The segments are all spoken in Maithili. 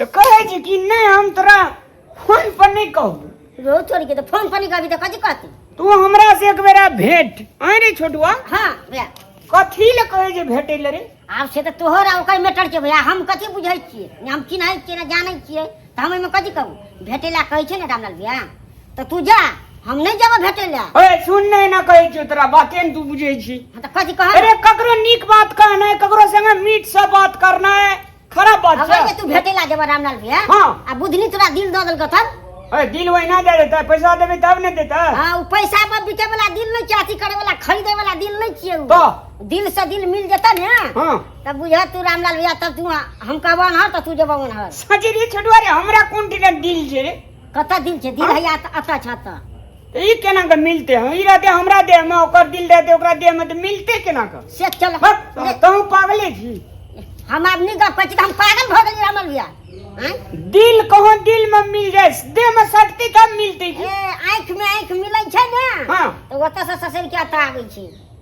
तो कहे जी कि नहीं हम तोरा फोन पर नहीं कहू रो छोड़ के तो फोन पर नहीं कभी तो कथी कहती तू हमरा से एक बेरा भेंट आए रे छोटुआ हाँ भैया कथी ले कहे जे भेटे ले रे आब से तऽ तोहर आ ओकर मैटर छै भैया हम कथी बुझै छियै ने हम चिन्है छियै ने जानै छियै तऽ हम एहिमे कथी कहू भेटै लए कहै छै ने रामलाल भैया तऽ तू जा हम नहि जेबो भेटै लए ओए सुन नहि ना कहै छियौ तोरा बाते ने तू बुझै छी हँ तऽ कथी कहब अरे ककरो नीक बात कहना है ककरो संगे मीठ से बात करना है खराब बात अगर जे छै तू भेटै लए जेबो रामलाल भैया हँ। आ बुधनी तोरा दिल दऽ देलकौ तब ओए दिल वहिना दे देता पैसा देबे तब ने देता हाँ उ पैसा पर बिके वाला दिल नहीं चाहिए अथी करे वाला खरीदे वाला दिल नहीं चाहिए उ। तो? दिल से दिल मिल जेता ने हाँ तब बुझा तू रामलाल भैया तब तू हम कहबो ना तो तू जेबो ना सजे रे छोटुआ रे हमरा कोन टिका दिल जे रे कता दिल जे दिल है अता छाता तो ई केना के मिलते हम ई रहते हमरा देह में ओकर दिल रहते ओकरा देह में तो मिलते केना के से चल कहूं पागले छी हम आदमी का पछ हम पागल भ गेली रामलाल भैया दिल कहो दिल में मिल जाए देह में शक्ति कम मिलते आंख में आंख मिले छै ना हां तो ओतसे ससुर के अता आबै छै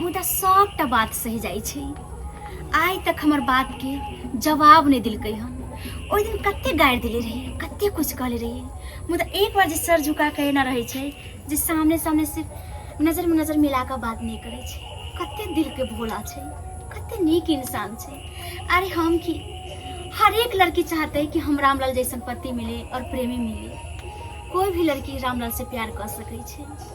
मुदा सभटा बात सहि जाइ छै आइ तक हमर बातके जवाब नहि देलकै हन ओहि दिन कते गारि देले रही कते किछु कहले रही मुदा एक बार जे सर झुका के एना रहै छै जे सामने सामने सिर्फ नजरमे नजर मिला कऽ बात नहि करै छै कते दिलके भोला छै कते नीक इंसान छै अरे हम की हर एक लड़की चाहते है कि हम रामलाल जैसन पति मिले और प्रेमी मिले कोई भी लड़की रामलाल से प्यार कर सकै छै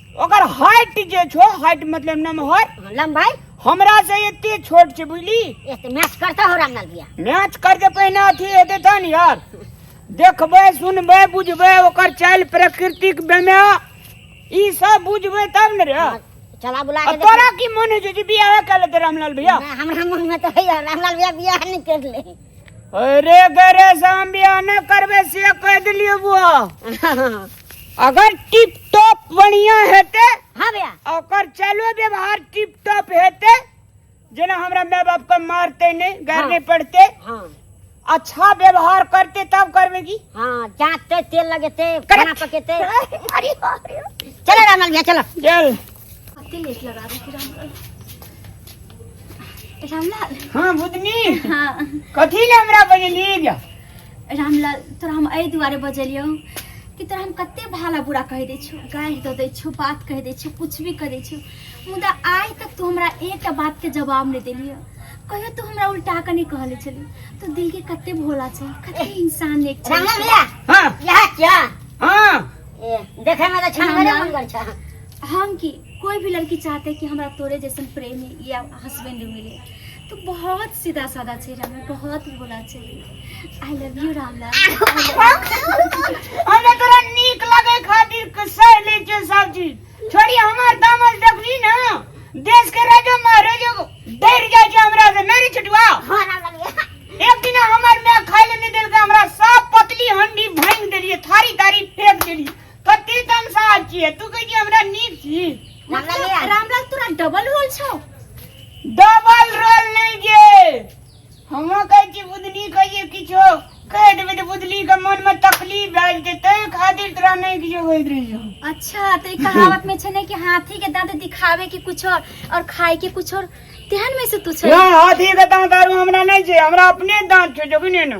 ओकर हाइट जे छो हाइट मतलब नमहर हाँ, लंबाई हमरा से एते छोट छै बुझली ए तऽ मैच करता हो रामलाल भैया मैच करके पहिने अथी हेतै तहन यार देखबै सुनबै बुझबै ओकर चालि प्रकृतिक बेमे ई सब बुझबै तब ने रे हाँ, चला बुला आ के तोरा देखी। की मन होइ छै जे बियाह कऽ लेतै रामलाल भैया नहि, हमरा मन में तो है रामलाल भैया बियाह नहीं कर ले अरे गरे हम बियाह न करबे से कह दिलियो बुआ अगर टिप टॉप बढ़िया हेते हाँ भैया ओकर चलो व्यवहार टिप टॉप हेते जेना हमरा माय बाप के मारते नहीं घर हाँ। नहीं पड़ते हाँ अच्छा व्यवहार करते तब करबे की हाँ जाते तेल लगेते खाना पकेते अरे बाप रे चलो रामलाल भैया चलो चल रामलाल हाँ बुधनी हाँ कथी ले हमरा बजलिए जा रामलाल तोरा हम एहि दुआरे बजलियौ कि तोरा हम कते भाला बुरा कहि दै छियौ गारि दऽ दै छियौ बात कहि दै छियौ कुछ भी कहि दै छियौ मुदा आइ तक तू हमरा एकटा बातके जवाब नहि देलियै कहियो तू हमरा उल्टा कऽ नहि कहले छली तू दिल के कते भोला छै कते इंसान नेक छै रामलाल भैया हाँ यहाँ क्या हाँ ए, देखे में तो छनगरे रामलाल। मनगर छा हम की कोई भी लड़की चाहते कि हमरा तोरे जैसे प्रेमी या हस्बैंड मिले तो बहुत सीधा साधा छे राम बहुत बोला छे I love you Ram Lal हमरा तोरा नीक लगे खातिर कसै ले छे सब चीज छोड़ी हमर दामल देखली ना देश के राजा महाराजा डर जाय छे हमरा से नहीं छुटवा हां राम लाल एक दिन हमर में खाइले नहीं देलके हमरा सब पतली हंडी भांग देलिए थारी थारी फेंक देलिए कते तमसा छियै तू कहै छी हमरा नीक छी मतलब रामलाल तोरा डबल रोल छौ डबल रोल नहि गे हम कहै छी बुधनी कहिए किछो कह देबै तऽ बुधनी के मन में तकलीफ भए जेतै ताहि खातिर तोरा नहि किछो होइत रहै छौ अच्छा तो ई कहावत में छै ने कि हाथी के दांत दिखावे के कुछ और और खाए के कुछ और तेहन में से तू छै यहाँ हाथी के दाँत आरू हमरा नहि छै हमरा अपने दाँत छौ जो कि नहि ने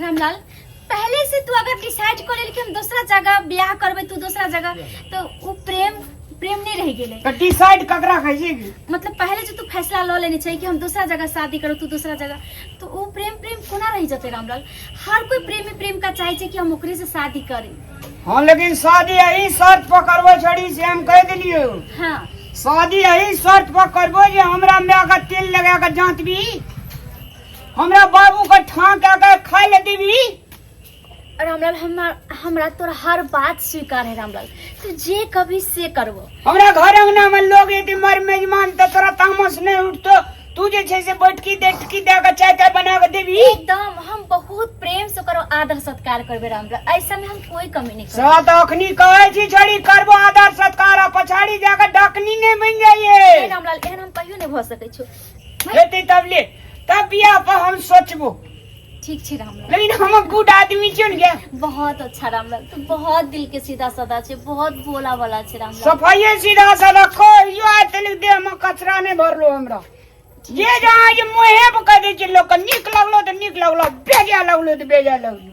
रामलाल पहले से तू अगर डिसाइड कर लेल कि हम दूसरा जगह ब्याह करबे तू दूसरा जगह तो उ प्रेम प्रेम नहीं रह गेले तो डिसाइड ककरा कहै छै कि मतलब पहले जो तू फैसला ल लेने छै कि हम दूसरा जगह शादी करो तू दूसरा जगह तो उ प्रेम प्रेम कोना रह जते रामलाल हर कोई प्रेमी प्रेम का चाहे छै कि हम ओकरे से शादी करी हाँ लेकिन शादी यही शर्त पर करबो छोड़ी से हम कह दिलियो हाँ शादी यही शर्त पर करबो जे हमरा माय के तेल लगा के जांचबी हमरा बाबू के ठां के के खाय ले देबी रामलाल हमरा हमरा तोर हर बात स्वीकार है रामलाल तू जे कभी से करबो हमरा घर अंगना में लोग यदि मर मेजमान त तोरा तामस नहीं उठतो तू जे छै से बैठकी देखकी दे के चाय ताय बना के देबी एकदम हम बहुत प्रेम से करो आदर सत्कार करबे रामलाल ऐसा में हम कोई कमी नहीं करबो सात अखनी कहै छी छोड़ी करबो आदर सत्कार आ पछाड़ी जाके डकनी नहीं बन जाइए रामलाल एहन हम कहियो नहीं भ सकै छो हेतै तब ले तब बियाह पर हम सोचबो ठीक छी रामलाल लेकिन हम गुड आदमी छियो ने बहुत अच्छा रामलाल तू बहुत दिल के सीधा साधा छे बहुत भोला वाला छे रामलाल सफाइए सीधा साधा कहियो आइ तनिक देह में कचरा नहीं भरलो हमरा जे जहाँ जे मुँहे पर कह दै छै लोक नीक लगलो तऽ नीक लगलो बेजा लगलो तऽ बेजा लगलो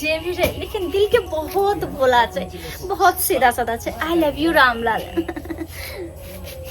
जे भी रहे लेकिन दिल के बहुत बोला छै बहुत सीधा साधा छै आई लव यू रामलाल